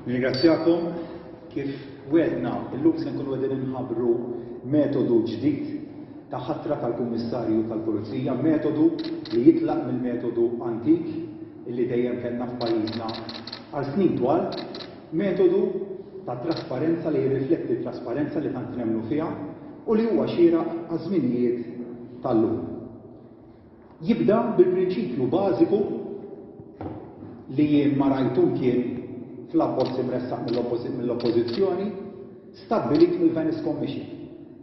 Nirringrazzjakom kif wedna illum se nkunu qegħdin inħabbru metodu ġdid ta' ħatra tal-Kummissarju tal-Pulizija, metodu li jitlaq mill-metodu antik li dejjem kellna f'pajjiżna għal snin twal Metodu ta' trasparenza li jirrifletti t-trasparenza li tant nemmnu fiha u li huwa xieraq għaż-żminijiet tal-lum. Jibda bil-prinċipju bażiku li jien ma rajt u mkien fl-abbozz imressaq mill-Oppożizzjoni stabbilit mill-Venice Commission,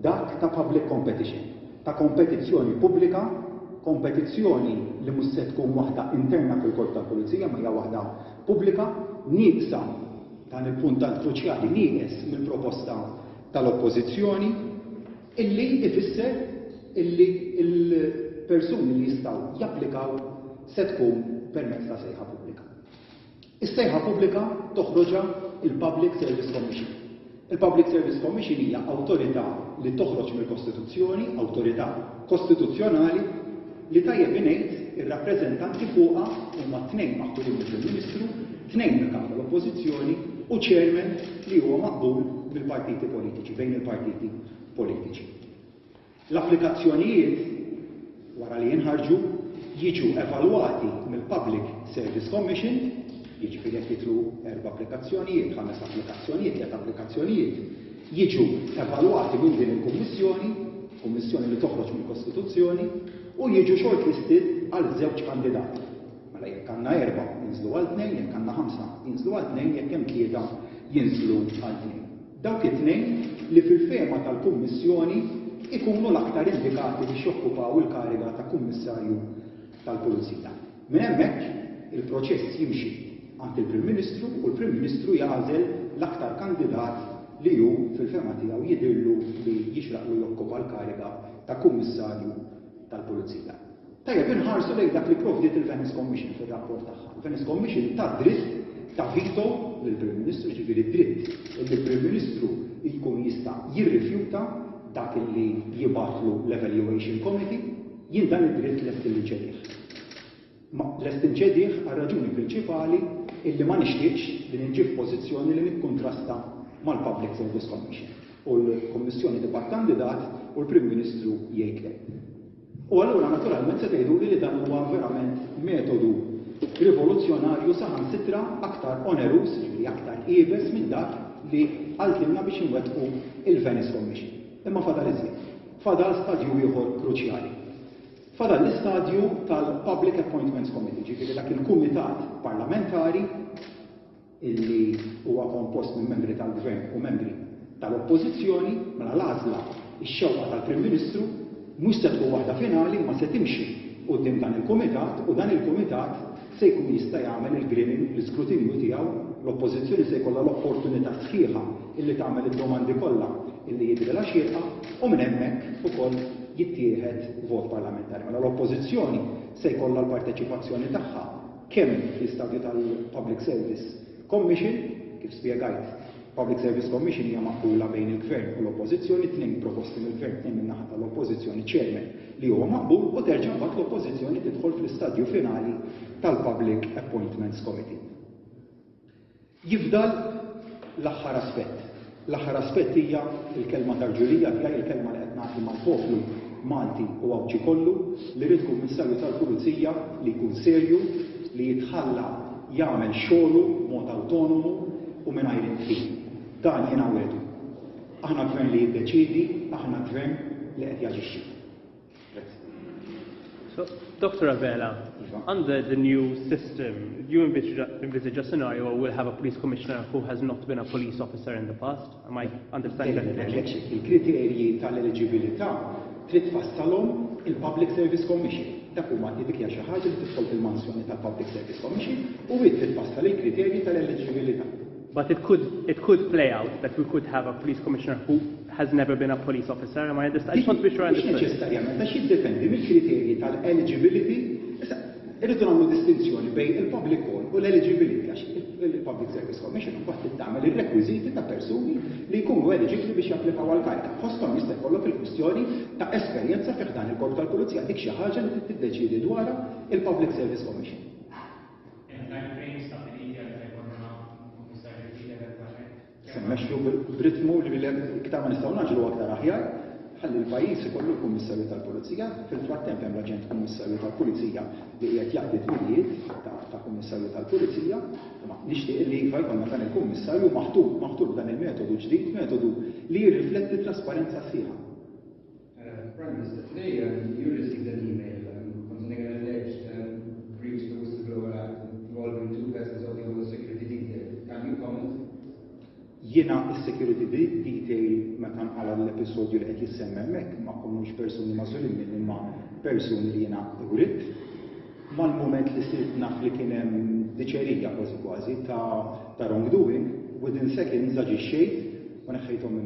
dak ta' public competition, ta' kompetizzjoni pubblika, kompetizzjoni li mhux se tkun waħda interna fil-Korp tal-Pulizija imma hija waħda pubblika nieqsa, dan il-punt tant kruċjali nieqes mill-proposta tal-Oppożizzjoni, illi jfisser illi l-persuni li jistgħu japplikaw se tkun permezz ta' sejħa pubblika. Is-sejħa pubblika toħroġha l-Public Service Commission. Il-Public Service Commission hija awtorità li toħroġ mill-Kostituzzjoni, awtorità kostituzzjonali, li tajjeb ingħid ir-rappreżentanti fuqha huma tnejn maħturin mill-Prim Ministru, tnejn mill-Kap tal-Oppożizzjoni u Chairman li huwa maqbul mill-partiti politiċi, bejn il-partiti politiċi. L-applikazzjonijiet, wara li jinħarġu, jiġu evalwati mill-Public Service Commission, jiġifieri jekk jidħlu erba' applikazzjonijiet, ħames applikazzjonijiet, tliet applikazzjonijiet, jiġu evalwati minn din il-Kummissjoni, Kummissjoni li toħroġ mill-Kostituzzjoni, u jiġu shortlisted għal żewġ kandidati. Mela jekk għandna erba' jinżlu għal tnejn, jekk għandna ħamsa jinżlu għal tnejn, jekk hemm tlieta jinżlu għal tnejn. Dawk it-tnejn li fil-fehma tal-Kummissjoni jkunu l-aktar indikati biex jokkupaw il-kariga ta' Kummissarju tal-Pulizija. Minn hemmhekk, il-proċess jimxi għand il-Prim Ministru u l-Prim Ministru jagħżel l-aktar kandidat li hu fil-fehma tiegħu jidhirlu li jixraqlu jokkupa l-kariga ta' Kummissarju tal-Pulizija. Tajjeb, inħarsu lejn dak li provdiet il-Venice Commission fir-rapport tagħha. Il-Venice Commission tat dritt ta' veto lill-Prim Ministru, jiġifieri d-dritt illi Prim Ministru jkun jista' jirrifjuta dak illi jibgħatlu l-Evaluation Committee. Jien dan id-dritt lest illi nċedih. Imma lest inċedih għar-raġuni prinċipali illi ma nixtieqx li ninġi f'pożizzjoni li nikkuntrasta mal-Public Service Commission u l-Kummissjoni tibgħat kandidat u l-Prim Ministru jgħid le. U allura naturalment se tgħiduli li dan huwa verament metodu rivoluzzjonarju saħansitra aktar oneruż, jiġifieri aktar iebes minn dak li qaltilna biex inwettqu l-Venice Commission. Imma fadal iżjed. Fadal stadju ieħor kruċjali. Fadal l-istadju tal-Public Appointments Committee, jiġifieri dak il-kumitat parlamentari illi huwa kompost minn membri tal-Gvern u membri tal-Oppożizzjoni, mela l-għażla, ix-xewqa tal-Prim Ministru, mhux se tkun waħda finali imma se timxi quddiem dan il-Kumitat u dan il-Kumitat se jkun jista' jagħmel il-greening, l-iskrutinju tiegħu, l-Oppożizzjoni se jkollha l-opportunità sħiħa illi tagħmel id-domandi kollha illi jidhrilha xierqa u minn hemmhekk ukoll jittieħed vot parlamentari. Mela l-Oppożizzjoni se jkollha l-parteċipazzjoni tagħha. kemm fl-istadju tal-Public Service Commission, kif spjegajt, Public Service Commission hija maqbula bejn il-Gvern u l-Oppożizzjoni, tnejn proposti mill-Gvern, tnejn min-naħa tal-Oppożizzjoni, Chairman li huwa maqbul u terġa' mbagħad l-Oppożizzjoni tidħol fl-istadju finali tal-Public Appointments Committee. Jifdal l-aħħar aspett. L-aħħar aspett hija l-kelma ta' rġulija tiegħi, il-kelma li qed nagħti mal-poplu Malti u Għawdxi kollu, li rrid Kummissarju tal-Pulizija li jkun serju, li jitħalla jagħmel xogħlu b'mod awtonomu u mingħajr indħil. Dan jiena wegħdu. Aħna Gvern li jiddeċiedi, aħna Gvern li qed jaġixxi. So, Dr. Abela, under the new system, do you envisage a scenario where we'll have a police commissioner who has not been a police officer in the past? Am I understanding that correctly? Il-kriterji tal-eligibilità trid tfassalhom il-Public Service Commission. Dak huma dik hija xi ħaġa li tidħol fil-mansjoni tal-Public Service Commission u hi trid tfassal il-kriterji tal-eligibilità. But it could it could play out that we could have a police commissioner who has never been a police officer, am I understanding? I just want to be sure I understood. Mhux neċessarjament għax jiddependi mill-kriterji tal-eligibility. Issa, irridu nagħmlu distinzjoni bejn il-public call u l-eligibility għax il-Public Service Commission mbagħad tittamel ir-rekwiżiti ta' persuni li jkunu eliġibbli biex japplikaw għal kariga. Fosthom jista' jkollok il-kwistjoni ta' esperjenza fih dan il-Korp tal-Pulizija dik xi ħaġa li tiddeċiedi dwarha il-Public Service Commission. Hemm timeframes stabbiliti għal meta jkollna Kummissarju ġdid eventwalment? Se mmexxu b'ritmu li iktar ma nistgħu ngħaġġlu aktar aħjar, ħalli l-pajjiż ikollu l-Kummissarju tal-Pulizija. Fil-frattemp hemm l-aġent Kummissarju tal-Pulizija li qiegħed jaqdi d-dmirijiet ta' Kummissarju tal-Pulizija. Imma nixtieq li iva jkollna dan il-Kummissarju maħtur, maħtur b'dan il-metodu ġdid, metodu li jirrifletti t-trasparenza sħiħa. Prime Minister, today um, you received an email um, concerning an alleged um, breach of the Whistleblower Act involving two persons of your security detail. Can you comment? Jiena il-security detail meta nqala l-episodju li qed jissemma hemmhekk ma komux persuni mażulin minn imma persuni li jiena urid. Mal-moment li sirt naf li kien hemm diċerija kważi kważi ta' ta' wrongdoing, within seconds aġixxejt u neħħejthom minn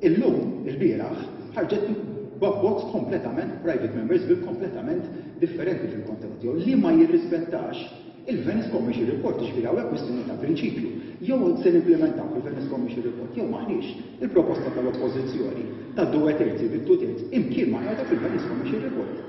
Illum, ilbieraħ, ħarġet b'abbozz kompletament private members bill kompletament differenti fil-kontenut tiegħu li ma jirrispettax il-Venice Commission Report, jiġifieri hawn hekk kwistjoni ta' prinċipju. Jew se nimplimentaw il-Venice Commission Report jew m'aħniex. Il-proposta tal-Oppożizzjoni ta' due terzi bi two thirds imkien ma qiegħda fil-Venice Commission Report.